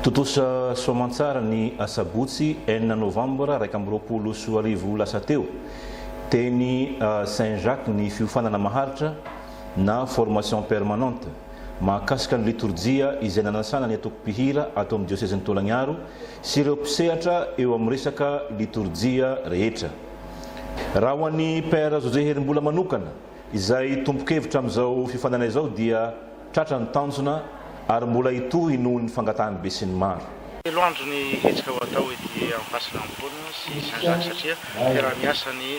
Tontosa soamantsara ny asabotsy enina novambra iraika amby roapolo sy roa arivo lasa teo, teny Saint Jacques ny fiofanana maharitra na formation permanente mahakasika ny litorjia izay nanasana ny antoko mpihira ato amin'ny diosezin'i Tolagnaro sy ireo mpisehatra eo amin'ny resaka litorjia rehetra. Raha ho an'i Père José Herimbola manokana izay tompon-kevitra amin'izao fiofanana izao dia. Tratra ny tanjona ary mbola hitohy noho ny fangatahan'ny besinimaro. Telo andro ny hetsika ho atao ety Ampasanampoina sy Saint Jacques satria fiaraha-miasa ny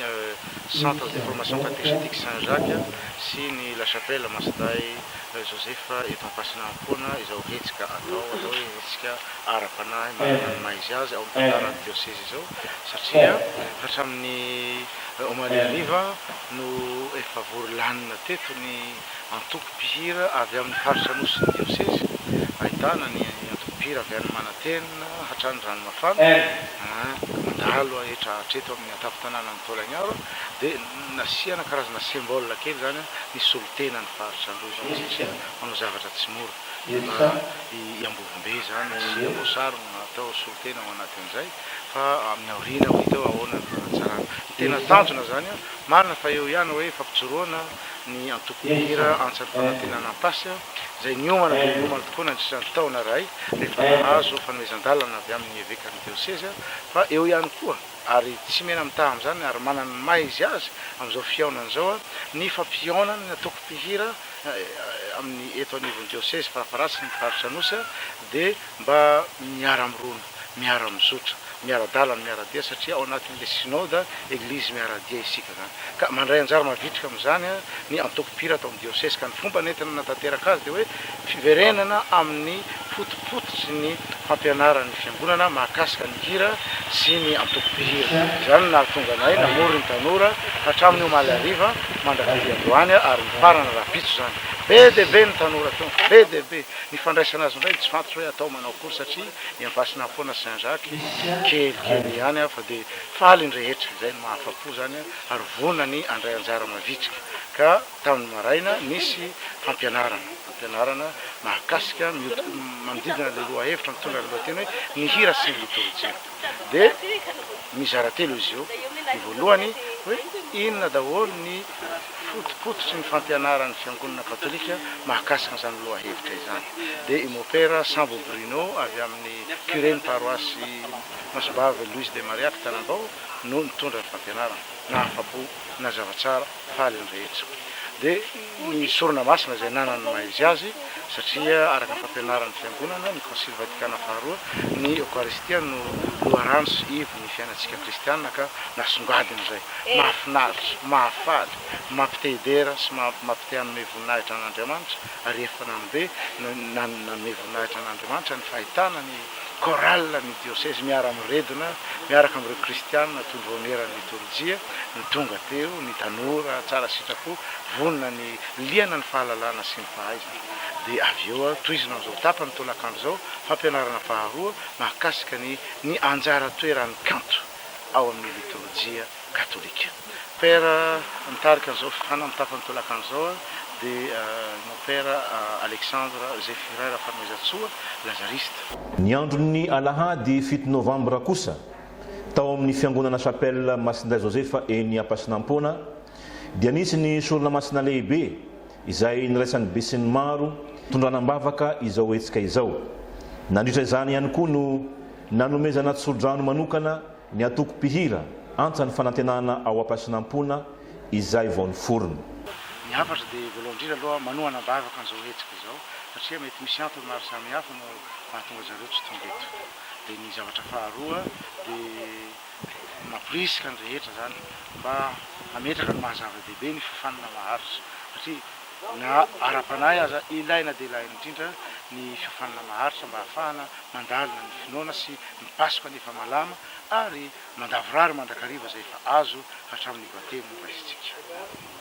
Centre de Formation Catéchétique Saint Jacques sy ny La Chapelle Masindahy Joseph eto Ampasanampoina izao hetsika atao atao hoe hetsika ara-panahy manana ny maha izy azy ao amin'ny tantaran'ny dioseza izao satria hatramin'ny omaly hariva no efa vory lanona teto ny antoko mpihira avy amin'ny faritra Anosy ny diosezy, ahitana ny antoko mpihira avy any Manantena hatrany Ranomafana, ka mandalo hetra hatreto amin'ny an-tampon-tanànan'i Taolagnaro, dia nasiana karazana symbole kely izany ny solontena ny faritra Androy satria manao zavatra tsy mora, mba i Ambovombe izany sy Amboasary no natao solontena ao anatin'izay, fa amin'ny aoriana ho hita eo ahoana ny fanatsarana. Ny tena tanjona izany marina fa eo ihany hoe fampijoroana, ny antoko Mpihira Antsa ny Fanantenana Ampasy izay niomana dia niomana tokoa nandritra ny taona iray rehefa nahazo fanomezan-dalana avy amin'ny evekan'ny diosezy fa eo ihany koa ary tsy mena-mitaha amin'izany ary manana ny maha izy azy amin'izao fihaonana izao ny fampihaonana ny antoko Mpihira amin'ny eto anivon'ny diosezy farafaharatsin'ny Faritra Anosy dia mba miara-mirona miara-mizotra, miara-dalana, miara-dia satria ao anatin'ilay Synode, Eglizy miara-dia isika izany. Ka mandray anjara mavitrika amin'izany ny antoko mpihira ato amin'ny diosesy. Ka ny fomba nentina nanatanteraka azy dia hoe fiverenana amin'ny fotopototry ny fampianaran'ny Fiangonana mahakasika ny hira sy ny antoko mpihira. Izany no nahatonga anay namory ny tanora hatramin'ny omaly hariva mandrak'ity androany ary mifarana rahampitso izany. Be dia be ny tanora tonga, be dia be. Ny fandraisana azy indray dia tsy fantatro hoe atao manao akory satria. Ny ampasinà foana sy andraky, kelikely ihany aho fa dia faly ny rehetra, izay no mahafa-po izany an, ary vonona ny handray anjara mavitrika. Ka tamin'ny maraina, nisy fampianarana, fampianarana mahakasika, miodi, manodidina ilay lohahevitra mitondra ny lohateny hoe Ny hira sy ny litorjia. Dia mizara telo izy io, ny voalohany hoe inona daholo ny. fotopototry ny fampianaran'ny Fiangonana Katolika mahakasika an'izany lohahevitra izany dia i Mopera Sambo Bruno avy amin'ny Curen'ny Paroasy Masombahavy Luis de Maria Kitanambao no nitondra ny fampianarana. Nahafa-po, nazava tsara, faly ny rehetra. Dia ny Sorona Masina izay nanana ny maha izy azy satria araka ny fampianaran'ny Fiangonana, ny Konsily Vatikana Faharoa, ny Eokaristia no loharano sy iv. ny fiainantsika kristiana ka nasongadina izay. Mahafinaritra, mahafaly, mampite-hidera sy mampite-hanome voninahitra an'Andriamanitra ary efa nanombe nanome voninahitra an'Andriamanitra ny fahitana ny chorale ny dioseze miara-miredona miaraka amin'ireo kristiana tondro aoneran'ny litorjia no tonga teo, ny tanora tsara sitrapo vonona ny liana ny fahalalana sy ny fahaizana. Dia avy eo tohizina amin'izao tapany tolakandro izao fampianarana faharoa mahakasika ny. Ny anjara toeran'ny kanto ao amin'ny litorjia katolika. Père mitarika an'izao fifaninana amin'ny tapany tolakandro izao dia ny Père Alexandre Zéphirin Rafanoizatsoa, Lazariste. Ny andron'ny alahady fito novambra kosa, tao amin'ny fiangonana Chapelle Masindahy Joseph eny Ampasinampoana, dia nisy ny sorona masina lehibe, izay niraisan'ny besinimaro tondrana am-bavaka izao hetsika izao. Nandritra izany ihany koa no nanomezana tsodrano manokana ny antoko mpihira Antsa ny Fanantenana ao Ampasinampoina izay vao niforona. Ny hafatra dia voalohany indrindra aloha manohana am-bavaka an'izao hetsika izao satria mety misy antony maro samihafa no mahatonga an-dry zareo tsy tonga eto. Dia ny zavatra faharoa dia. Mamporisika ny rehetra izany mba hametraka ny maha zava-dehibe ny fiofanana maharitra satria na ara-panahy aza ilaina dia ilaina indrindra ny fiofanana maharitra mba hahafahana mandalina ny finoana sy ny Paska ny efa malama ary mandavorary mandrakariva izay efa azo hatramin'ny Batemy noraisitsika.